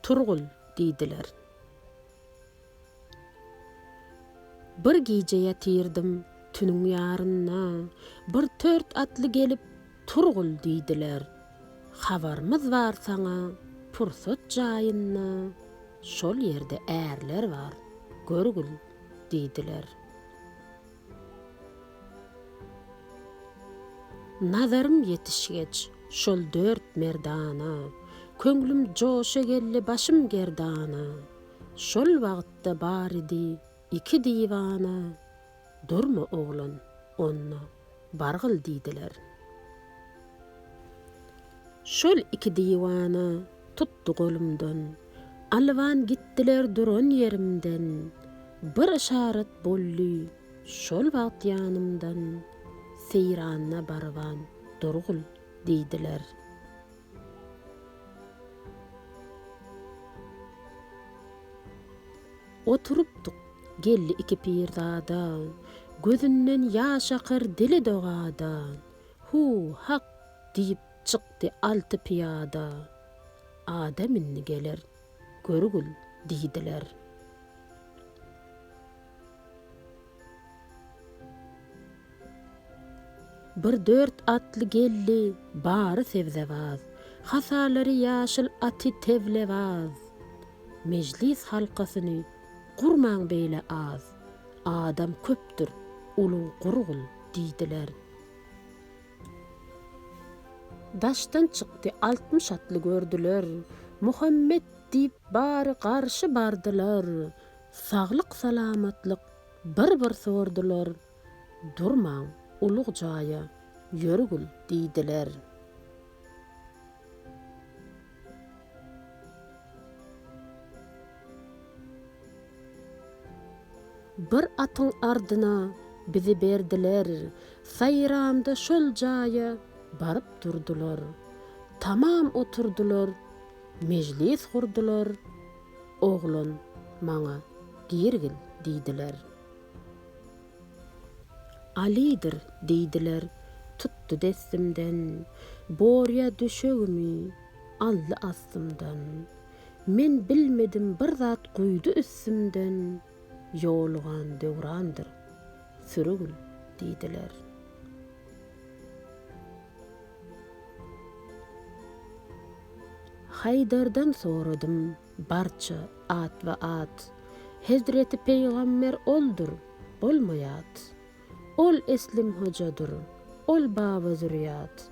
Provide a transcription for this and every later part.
Turgul! diýdiler. Bir gije ýatyrdym tüniň ýarynda, bir tört atly gelip, Turgul! diýdiler. Habarymyz bar saňa, pursat jaýynda, şol ýerde ärler bar, görgül! diýdiler. Nazarym ýetişgeç, şol dört merdana, Köňlüm joşa geldi, başym gerdana. Şol wagtda baridi iki diwana, Durma oglan, onda bargyl diýdiler. Şol iki diwana tutdy golumdan, Alwan gitdiler duran ýerimden, Bir yşarat boldy şol wagt ýanymdan, Seýrana barban durgul diýdiler. Oturypdyk, geldi iki pirzada, Gözünden ýaş akar dili dogada, Hu, hak! diýip çykdy alty pyýada. Adam indi geler, görgül, diýdiler. Bir dört atly geldi, bary sebzebaz. Hasalary ýaşyl aty tewlebaz. Mejlis halkasyny gurmaň beýle az. Adam köpdür, uluw gurgul, diýdiler. Daşdan çykdy, altmyş atly gördüler. Muhammet diýip bary garşy bardylar. Saglyk-salamatlyk bir-bir sordular. Durmaň, ulug jaýa ýörgül diýdiler. Bir atyň ardyna bizi berdiler, Saýramda şol jaýa baryp durdular. Tamam oturdylar, mejlis gurdular, Oglan, maňa girgil diýdiler. Alydyr diýdiler, tutdy dessimden, Borýa döşegimi aldy astymdan. Men bilmedim bir zat guýdy üstümden ýolugan Döwrandyr sürügin diýdiler. Haýdardan soradym barça atba-at, Hezreti Pygamber oldur, bolmaýat. Ol Eslim Hojadyr, ol Baba Zürýat,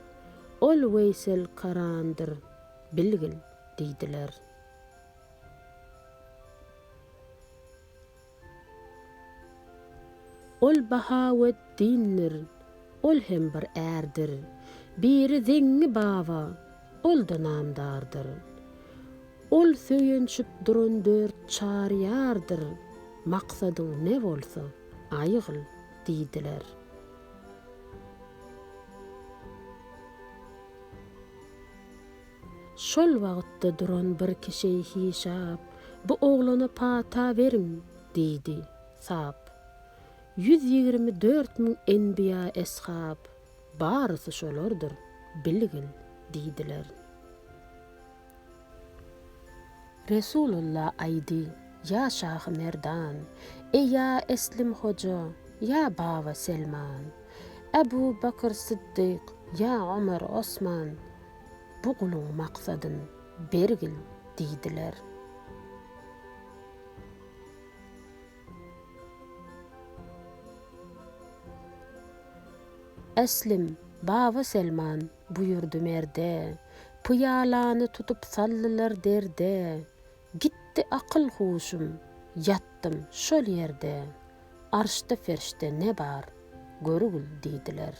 ol Weýsel Karandyr, bilgil. diýdiler. Ol Bahaweddindir, ol hem bir ärdir. Biri Zeňňi baba, ol-da namdardyr. Ol söýenşip duran dört çar ýardyr, maksadyň ne bolsa, aýgyl, diýdiler. Şol wagtda duran bir kişi Hişap, Bu oglana pata beriň! diýdi. Sap. Ýüz ýigrimi dört müň enbiýa, eshab, barysy şolardyr, bilgil! diýdiler. Resulullah aýdy, Ýa şahy merdan! Eý, ýa Eslim hoja! Ýa baba Selman! Äbu Bakr Syddyk! Ýa Omar, Osman! bu guluň maksadyn bergil diýdiler. Äslim, Baba Selman buýurdy merde, Pyýalany tutup saldylar derde, Gitdi akyl-huşum, ýatdym şol ýerde, Arşda-ferşde ne bar, görgül diýdiler.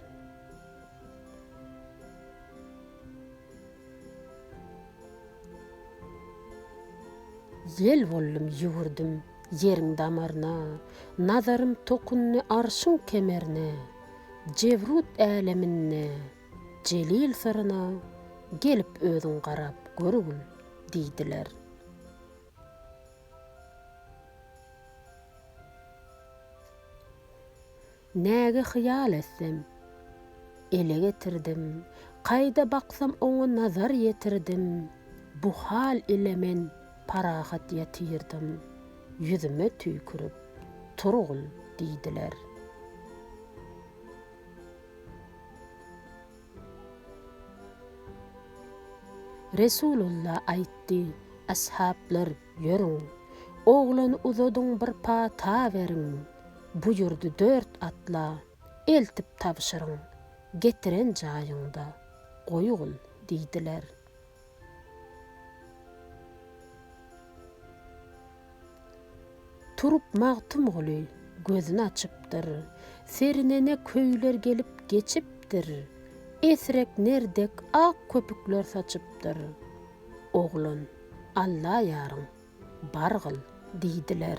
Ýel boldum ýüwürdim ýeriň damaryna, Nazarym tokundy arşyň kemerine, Jebrut äleminde Jelil syryna, Gelip özüň garap görgün, diýdiler. Näge hyýal etsem, ele getirdim, Kaýda baksam oňa nazar ýetirdim, Bu hal ile men parahat ýatyrdym, Ýüzüme tüýkürip, Turgun, diýdiler. Resulullah aýtdy, Ashablar, ýörüň, oglany uzadyň bir pata beriň, buýurdy dört atla, eltip tabşyryň, getiren jaýyňda goýgyn diýdiler. Turup Magtymguly gözün açypdyr, Serinene köýler gelip geçipdir, Esrek ner dek ak köpükler saçypdyr. Oglan, Allaýaryň, bargyl! diýdiler.